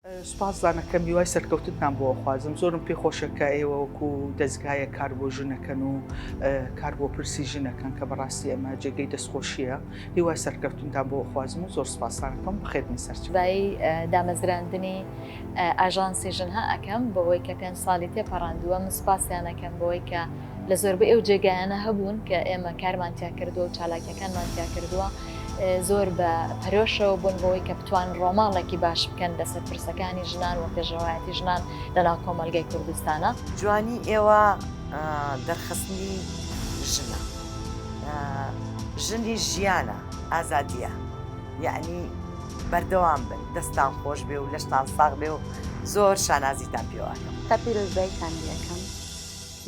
سوپاس زانەکەم هیوای سەرکەوتنتان بۆ ئەخوازم زۆرم پێ خۆشە کە ئێوە وەکو دەزگایە کار بۆ ژنەکەن و کار بۆ پرسی ژنەکەن کە بەڕاستی ئەمە جێگەی دەستخۆشیە هیوای سەرکەوتنتان بۆ ئەخوازم و زۆر سوپاسانەکەم بخێتنە سەرچبایی دامەزراندنی ئاژانسی ژنها ئەەکەم بۆ ئەوەی کە پێنج ساڵی تێپەڕاندووە من سوپاسیانەکەم بۆی کە لە زۆربەی ئەو جێگایانە هەبوون کە ئێمە کارمان تیا کردووە و چالاکیەکانمان تیا کردووە زۆر بە پەرۆشەوە بوون بۆی کە بتوان ڕۆماڵێکی باش بکەن لەسەر پرسەکانی ژنان و پێشڕایەتی ژنان لەناو کۆمەلگای کوردستانە جوانی ئێوە دەرخستنی ژنە ژنی ژیانە ئازادیە یعنی بەردەوام بن دەستان خۆش بێ و لەشتان ساغ بێ و زۆر شانازیتان پێوانە تا پیرۆزبایتان لەکەم.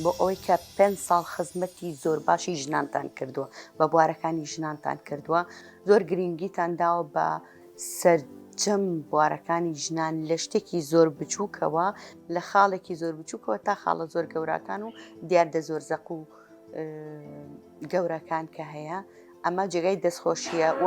بۆ ئەوەی کە پێنج ساڵ خزمەتی زۆر باشی ژنانتان کردووە بە بوارەکانی ژنانتان کردووە زۆر گرنگیتان داوە بە سەر جەم بوارەکانی ژنان لە شتێکی زۆر بچووکەوە لە خاڵێکی زۆر بچووکەوە تا خاڵە زۆر گەوراکان و دیاردە زۆر زەق و گەورەکان کە هەیە ئەمە جێگای دەستخۆشیە و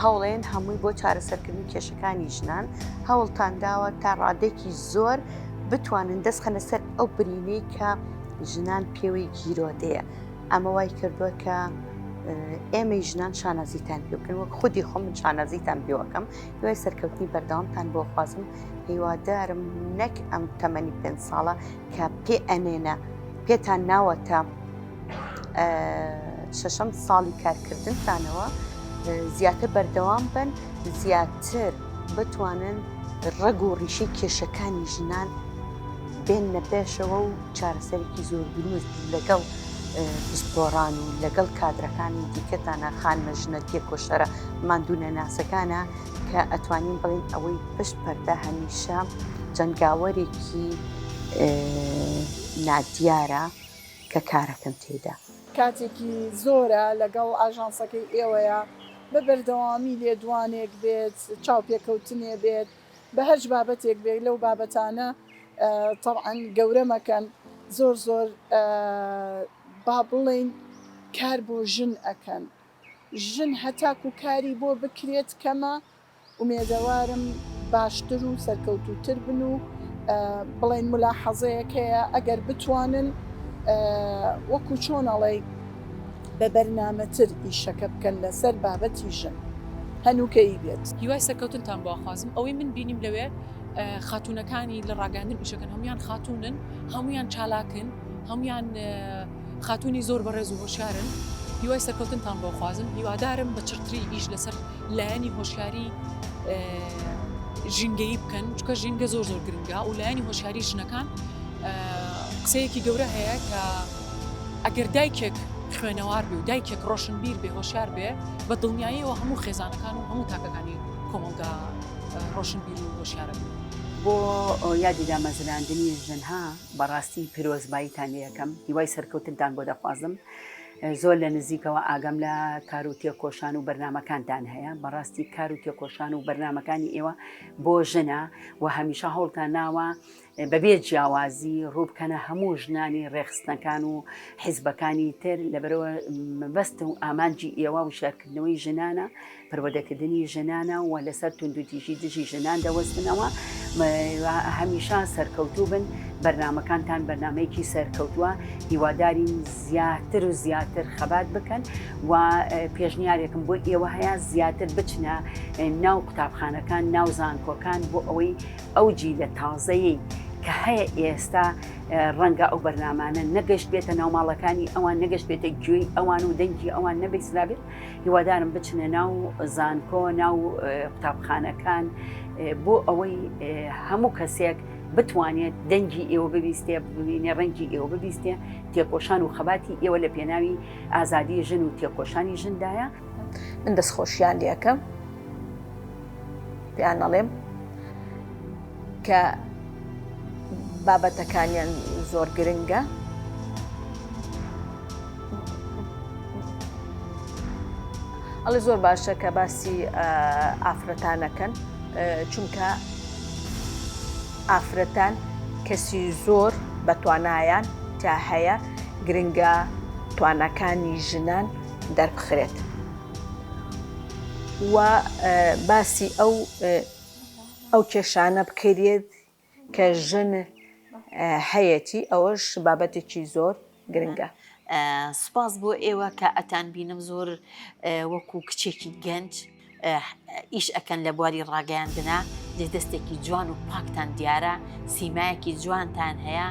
هەوڵێن هەمووی بۆ چارەسەرکردنی کێشەکانی ژنان هەوڵتان داوە تا ڕادێکی زۆر بتوانن دەستخەنە سەر ئەو برینەی کە ژنان پێوەی گیرۆدەیە ئەمە وای کردووە کە ئێمە ژنان شانازیتان پێکەن وەک خودی خۆم من شانازیتان پێوەکەم دوای سەرکەوتنی بەردەوامتان بۆ خوازم هیوادارم نەک ئەم تەمەنی پێ ساڵە کە پێ ئەنێنە پێتان ناوەتە شەشەم ساڵی کارکردنتانەوە زیاتر بەردەوام بن زیاتر بتوانن ڕەگ و ڕیشی کێشەکانی ژنان بێن لە پێشەوە و چارەسەرێکی زۆر دروست لەگەڵ پسپۆڕان و لەگەڵ کادرەکانی دیکەتانە خانمە ژنە تێکۆشەرە مادونە ناسەکانە کە ئەتوانین بڵین ئەوەی پشت پەردە هەمیشە جەنگاوەرێکی نادیارە کە کارەکەم تێیدا. کاتێکی زۆرە لەگەڵ ئاژانسەکەی ئێوەیە، بە بەردەوامی لێدوانێک بێت، چاوپێکەوتنێ بێت، بە هەچ بابەتێک بێت، لەو بابەتانە تەبعەن گەورە مەکەن، زۆر زۆر با بڵێین کار بۆ ژن ئەکەن، ژن هەتاکوو کاری بۆ بکرێت کەمە، ئومێدەوارم باشتر و سەرکەوتووتر بن و بڵێن مولاحەزەیەک هەیە ئەگەر بتوانن وەکو چۆن ئەڵێی بە بەرنامەتر ئیشەکە بکەن لەسەر بابەتی ژن هەنووکەیی بێت. هیوای سەرکەوتنتان بۆ ئەخوازم، ئەوەی من بینیم لەوێ خاتوونەکانی لە ڕاگەیاندن ئیشەکەن هەموویان خاتوونن هەموویان چالاکن هەموویان، خاتونی زۆر بەڕێز و هۆشیارن هیوای سەرکەوتنتان بۆ خوازم هیوادارم بە چڕتری ئیش لەسەر لایەنی هۆشیاری ژینگەیی بکەن چکە ژینگە زۆر زۆر گرنگە و لایەنی هۆشیاری ژنەکان قسەیەکی گەورە هەیە کە ئەگەر دایکێک خوێنەوار بێ و دایکێک ڕۆشن بیر بێ هۆشار بێ بە دڵنیاییەوە هەموو خێزانەکان و هەموو تاکەکانی کۆمەڵگا ڕۆشن بیر و هۆشارە بۆ یادی دامەزراندنی ژنها بەڕاستی پیرۆزباییتان لێەکەم هیوای سەرکەوتنتان بۆ دەخوازم زۆر لە نزیکەوە ئاگام لە کار و تێکۆشان و بەرنمەکانتان هەیە بەڕاستی کار و تێکۆشان و بەرنمەکانی ئێوە بۆ ژنە و هەمیشە هەوڵتان ناوە بەبێ جیاوازی ڕووبکەنە هەموو ژنانی ڕێخستنەکان و حیزبەکانی تر لەبەرەوە مەبەست و ئامانجی ئێوە و شارکردنەوەی ژنانە پەروەدەکردنی ژنانە و لەسەر توندوتیژی دژی ژنان دەوەستنەوە هەمیشە سەرکەوتوو بن بەرنمەکانتان بەرنمەیەکی سەرکەوتووە هیوادارین زیاتر و زیاتر خەبات بکەن و پێشنیارێکم بۆ ئێوە هەیە زیاتر بچنە ناو قوتابخانەکان ناو زانکۆکان بۆ ئەوەی ئەو جی لە تازەیەی کە هەیە ئێستا ڕەنگە ئەو بەرنمانە نەگەشت بێتە ناوماڵەکانی ئەوان نەگەشت بێتە گوێی ئەوان و دەنگی ئەوان نەبیسرابێت هیوادارم بچنە ناو زانکۆ ناو قوتابخانەکان بۆ ئەوەی هەموو کەسێک بتوانێت دەنگی ئێوە ببیستێ ببینێ ڕەنگی ئێوە ببیستێ تێکۆشان و خەباتی ئێوە لە پێناوی ئازادی ژن و تێکۆشانی ژندایە من دەستخۆشیان لەکەم پێیان نەڵێم کە بابەتەکانیان زۆر گرنگە. ئەڵێ زۆر باشە کە باسی ئافرەتانەکەن چونکە ئافرەتان کەسی زۆر بە توانایان تا هەیە گرنگە توانەکانی ژنان دەربخرێت و باسی ئەو ئەو کێشانە بکەریت کە ژن هەیەتی ئەوەش بابەتێکی زۆر گرنگە. سوپاس بۆ ئێوە کە ئەتان بینم زۆر وەکو کچێکی گەنج ئیش ئەکەن لە بواری ڕاگەیاندنا جێ دەستێکی جوان و پاکتان دیارە سیمایەکی جوانتان هەیە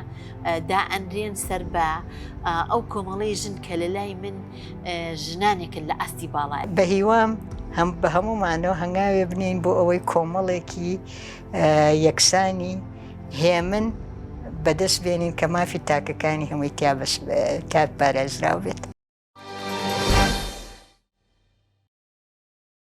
دا ئەنرێن سەر بە ئەو کۆمەڵی ژن کە لە لای من ژنانێکن لە ئاستی باڵا بەهیوام هەم بە هەمومانەوە هەنگاوێ بنین بۆ ئەوەی کۆمەڵێکی یەکسانی هێمن بەدەست بێنین کە مافی تاکەکانی هەمووی تیا بەس تاک پارێزراو بێت.